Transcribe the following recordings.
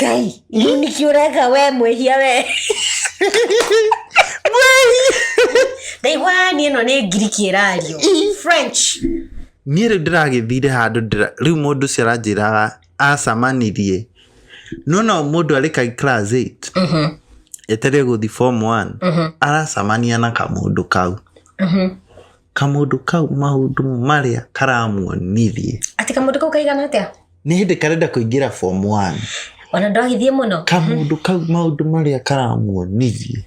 ngai rĩu nĩkĩ ũreka we mwĩhia we ndaigua niĩ ĩno nĩ ngiriki ĩrario french niĩ rĩu ndĩragĩthire handũ ndĩra- rĩu mũndũ ũcio aranjĩraga acamanirie no no mũndũ arĩ ka class 8 etereire gũthi form 1 aracamania na kamũndũ kau kamũndũ kau maũndũ marĩa karamuonithie Atĩ kamũndũ kau kaigana atĩa? nĩ hĩndĩ karenda kũingĩra form one Ona ndwagithie mũno. kamũndũ kau maũndũ marĩa karamuonithie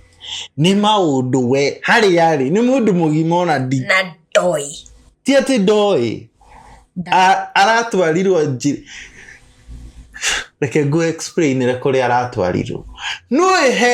nĩ maũndũ we harĩa arĩ nĩ mũndũ mũgima ona ndi Na ndoi. ti atĩ ndoĩ A- aratwarirwo njĩ reke ngũ explainire kũrĩa aratwarirwo nũĩhe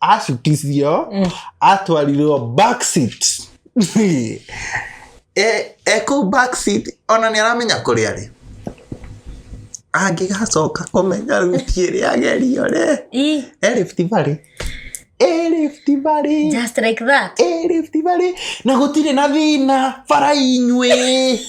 acutithio Mm. atwarirwo backseat e e kũu backseat ona nĩ aramenya kũrĩa rĩ angĩgacoka kũmenya ruti ĩrĩa agerio rĩ Ii, e Rift Valley e Rift Valley just like that e Rift Valley na gũtirĩ na thĩna bara inyuĩ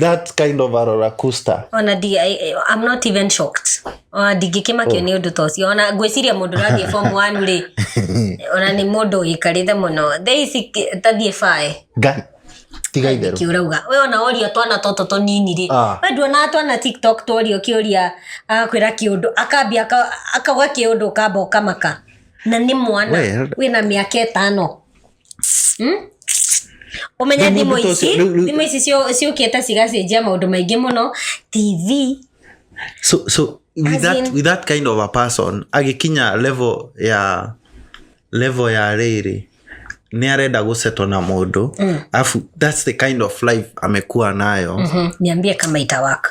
that kind of a roller coaster ona ndi- I- I- I'm not even shocked ona ndingĩkĩmakio nĩ ũndũ ta ũcio ona ngwĩciria mũndũ ũrathiĩ form one rĩ ona nĩ mũndũ ũikarĩte mũno thaa ici kĩ- tathiĩ bae Ngai, tiga itherũ kiurauga we ona orio twana toto tonini rĩ Ah. we nduonaga twana tiktok tworio kĩũria agakwĩra kĩũndũ akambia aka- akauga kĩũndũ ũkamba ũkamaka na nĩ mwana Well- wĩna mĩaka ĩtano Hmm? ũmenye Rĩu thimũ mũndũ ta ici ũcio- rĩu- rĩu- thimũ ici ciũ- ciũkĩte cigacenjia maũndũ maingĩ mũno tv so so with As that, in- with that kind of a person agĩkinya level ya level ya rĩrĩ nĩ arenda gũceto na mũndũ mm. afu that's the kind of life amekuwa nayo mm. Mhm, niambie kama itawaka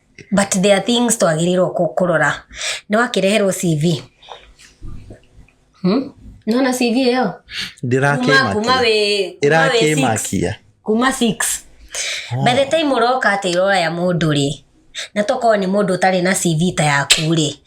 but there are things twagĩrĩirwo kũ- kũrora nĩ wakĩreherwo cv hmm? nona cv ĩyo kuma kuma ndĩrakĩmakia wĩ kuma wĩ six. ĩrakĩmakia kuma six by the time ũroka atĩ irora ya mũndũ rĩ na tokorwo nĩ mũndũ ũtarĩ na cv ta yaku rĩ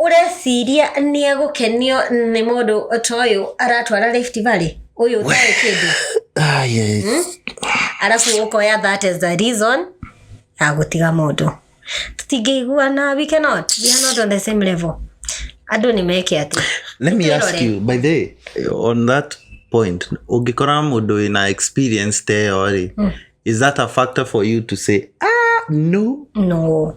ũreciria nĩ egũkenio nĩ mũndũ ta ũyũ aratwara Rift Valley ũyũ ũtarĩ kĩndũ Ai, arabu ũkoya that is the reason ya gũtiga mũndũ tũtingĩiguana we cannot we are not on the same level andũ nĩ meke atĩ let me ask Twĩrore. you by the way, on that point ũngĩkora mũndũ wĩna experience teyo rĩ is that a factor for you to say ah no no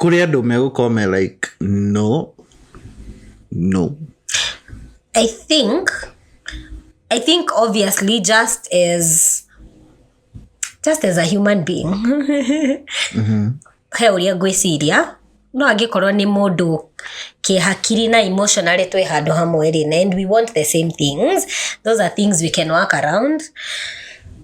kũrĩ andũ megũkorwo me like no no I think I think obviously just as just as a human being he ũrĩa ngwĩciria no angĩkorwo nĩ mũndũ kĩhakiri na emotionally twĩ handũ hamwe rĩ na and we want the same things those are things we can work around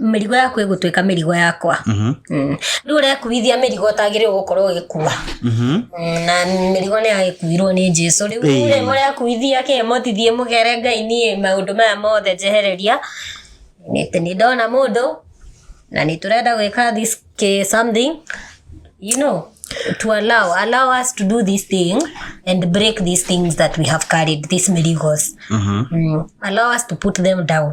mĩrigo yaku ĩgũtuĩka mĩrigo yakwa Mhm. Mm. rĩu ũrekuithia mĩrigo ũtagĩrĩirwo gũkorwo ũgĩkua Mhm. Mm, na mĩrigo nĩ yagĩkuirwo nĩ jesu rĩu Ĩĩ. rĩ mũrekuithia kĩ mũtithie mũgere ngai niĩ maũndũ maya mothe njehereria nĩ nĩ ndona mũndũ na nĩ tũrenda gwĩka this ki- something you know to allow allow us to do this thing and break these things that we have carried these mirigos Mhm. mm. allow us to put them down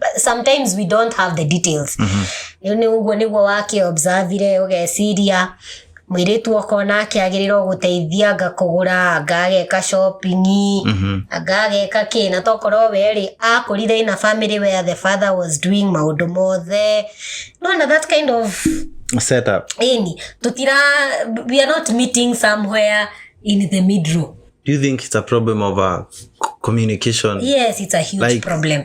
But sometimes we don't have the details rĩu nĩ ũguo nĩguo wakĩobservire ũgeciria mwĩrĩtu okona akĩagĩrĩrwo gũteithia anga kũgũra anga ageka shopping anga ageka kĩ na tokorwo werĩ akũrire in a family where the father was doing maũndũ mothe no na that kind of set up ini tutira we are not meeting somewhere in the middle do you think it's a problem of uh, c- communication yes it's a huge Like- problem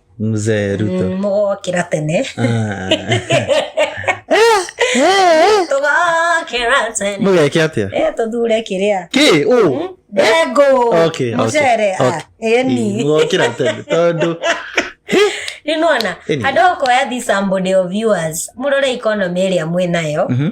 mzee ruto Mm, mũgokĩra tene Ah. tũgokĩra tene mũgeke atia Eh, tũthure kĩrĩa kä å ndengũ Okay, okay, mũcere ah, okay. eni mũgokĩra tene tondũ nĩnona Anyway. andũ okoya this somebody of viewers mũrore economy ĩrĩa mwĩ nayo Mhm.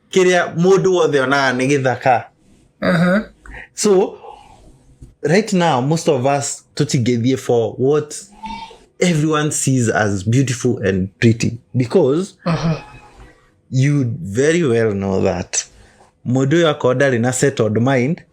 kĩrĩa mũndũ wothe onaga nĩ gĩthaka Aha. so right now most of us tũtingĩthiĩ for what everyone sees as beautiful and pretty because Aha. you very well know that mũndũ ũyũ akorwo ndarĩ na settled mind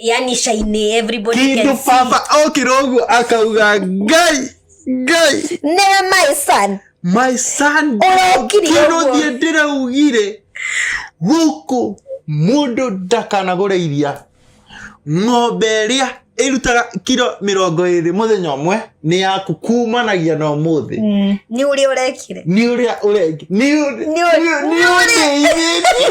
yani shainĩ everybody kĩndũ can see. baba okĩra ũguo akauga ngai ngai never my son my son Ũrokire kĩndũ ũguo. thiĩ ndĩraugire gũkũ mũndũ ndakanagũre iria ng'ombe ĩrĩa ĩrutaga kiro mĩrongo ĩrĩ mũthenya ũmwe nĩ yaku kumanagia na ũmũthĩ nĩ ũrĩa ũrekire nĩ ũrĩa ũrengi nĩ ũrĩ- Nĩ ũrĩ- nĩ ũrĩ- nĩ ũrĩithĩtie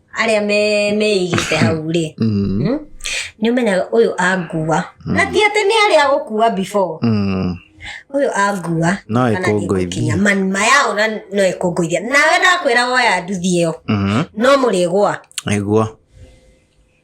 arĩa me- meigĩte hau rĩ Mm. Mm. nĩ ũmenyaga ũyũ angua na ti atĩ nĩ arĩa gũkua before Mm. ũyũ angua No kana ĩkũngũithie. nĩgũkinya. manima yao na no ĩkũngũithia nawe ndakwĩra woya nduthi ĩyo Mhm. no mũrĩgwa Nĩguo.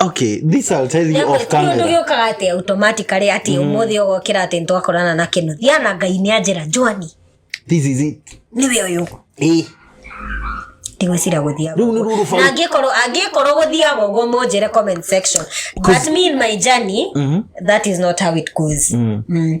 okay this i'll tell you off camera nĩgĩũkaga atĩ automatically atĩ ũmũthĩ ũgokĩra atĩ nĩtwakorana na kĩno thiana ngai nĩ anjĩra njwani this is it nĩwe ũyũ eh ndigwĩcira gũthiaga Rĩu nĩ rũrũ bau- na angĩkorwo angĩkorwo gũthiaga ũguo mũnjĩre comment section but me in my journey that is not how it goes mm.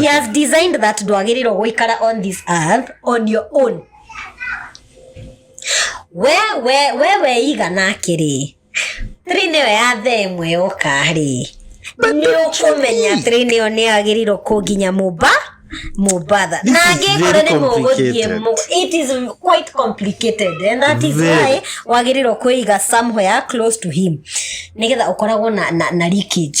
he has designed that ndwagĩrĩirwo gũikara on this earth on your own we we we weiga nake rĩ three nĩyo ya tha ĩmwe yoka rĩ nĩ ũkũmenya three nĩyo nĩ yagĩrĩirwo kũnginya mũmba mũmbatha na is very angĩkore nĩ mũgũthiĩ complicated. mũ- it is quite complicated and that is Very. why wagĩrĩirwo kũiga somewhere close to him nĩgetha ũkoragwo na, na, na leakage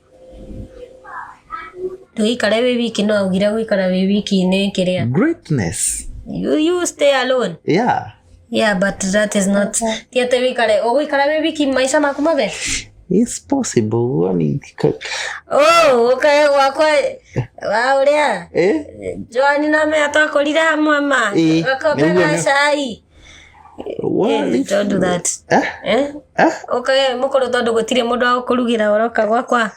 ndũgĩikare wĩ wiki no augire gũikara wĩ wiki nĩ kĩrĩa greatness you, you stay alone yeah yeah but that is not ti atĩ wĩikare ũgũikara wĩ wiki maica maku mothe it's possible woni oh okay wakwa wa ũrĩa eh joani na me atakũrire hamwe ma Eh, nĩguo nĩ- gakobera cai Eh, don't do that. Eh? Eh? Eh? Okay, mukorwo tondu gutire mundu wa kurugira oroka gwakwa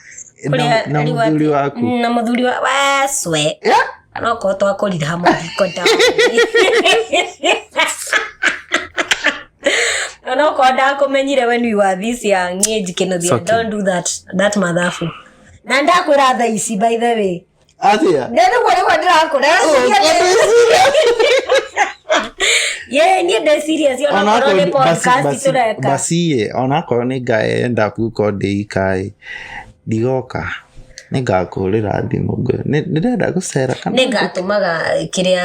na, na muthuri waku na muthuri wa weswe yeah? no ko twakorire hamwe ko ndawa no ko ndakumenyire when we were this young age kinothia don't do that that mathabu na ndakwira thaa ici by the way athĩa na rĩu ũguo nĩguo ndĩrakũra ye niĩ ndĩ serious ona onakorwo nĩ podcast tũreka basiĩ onakorwo nĩ ngaenda kuko ndĩikaĩ ndigoka nĩ ngakũhũrĩra thimũ ngwe- nĩ- nĩndenda gũcera kana nĩ ngatũmaga kĩrĩa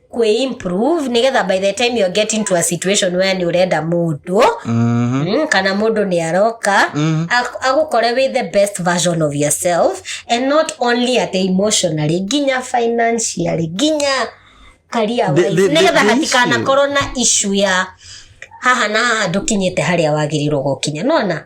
kwĩ improve nĩgetha by the time you're getting to a situation where nĩ ũrenda mũndũ Mhm. mm, kana mũndũ nĩ aroka Mhm. ak- agũkore with the best version of yourself and not only at emotionally nginya financially nginya career The- the- wise the- nĩgetha the hatikanakorwo na issue ya haha na haha ndũkinyĩte harĩa wagĩrĩirwo gũkinya nona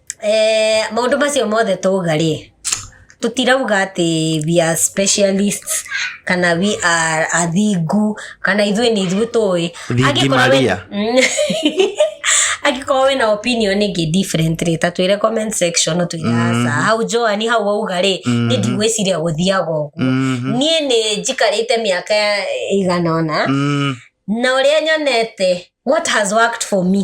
eh, maũndũ macio mothe tauga rĩ tũtirauga atĩ we are specialists kana we are athingu kana ithuĩ nĩ ithuĩ tũĩ Thingi Angĩkorwo we- Maria. angĩkorwo wĩna opinion ĩngĩ different rĩ ta twĩre comment section ũtwĩre aca hau joani hau wauga rĩ nĩ ndigwĩciria gũthiaga ũguo niĩ nĩ njikarĩte mĩaka ĩigana ũna Mm, na ũrĩa nyonete what has worked for me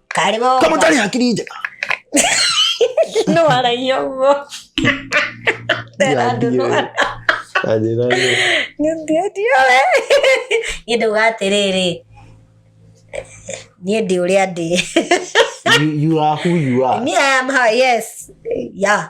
Karĩ mo. Kama ũtarĩ hakiri njega. No aragia ũguo. Tena andũ no Anjĩra nĩ. ndio ndio we. Niĩ ndauga atĩrĩrĩ. Niĩ ndĩ ũrĩa ndĩ. You- You are who you are. Me I am her, yes. Yeah.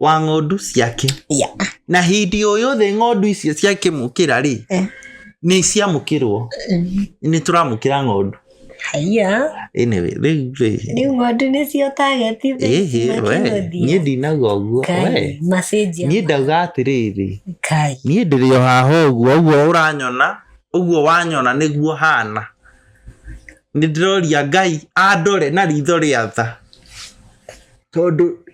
wa ng'ondu ciake Ya. na hindi o yothe ng'ondu icio ciakĩmũkĩra rĩ Eh. nĩ ciamũkĩrwo nĩ tũramũkĩra ng'ondu Haiya. anyway, rĩu rĩ Rĩu ng'ondu nĩcio target ici ĩhĩ we makĩgũthiĩ. niĩ ndinaga ũguo we Kai, message ya- niĩ ndauga atĩrĩrĩ Kai. niĩ ndĩrĩ o haha ũguo ũguo ũranyona ũguo wanyona nĩguo hana nĩ ndĩroria ngai andore na ritho rĩa tha tondũ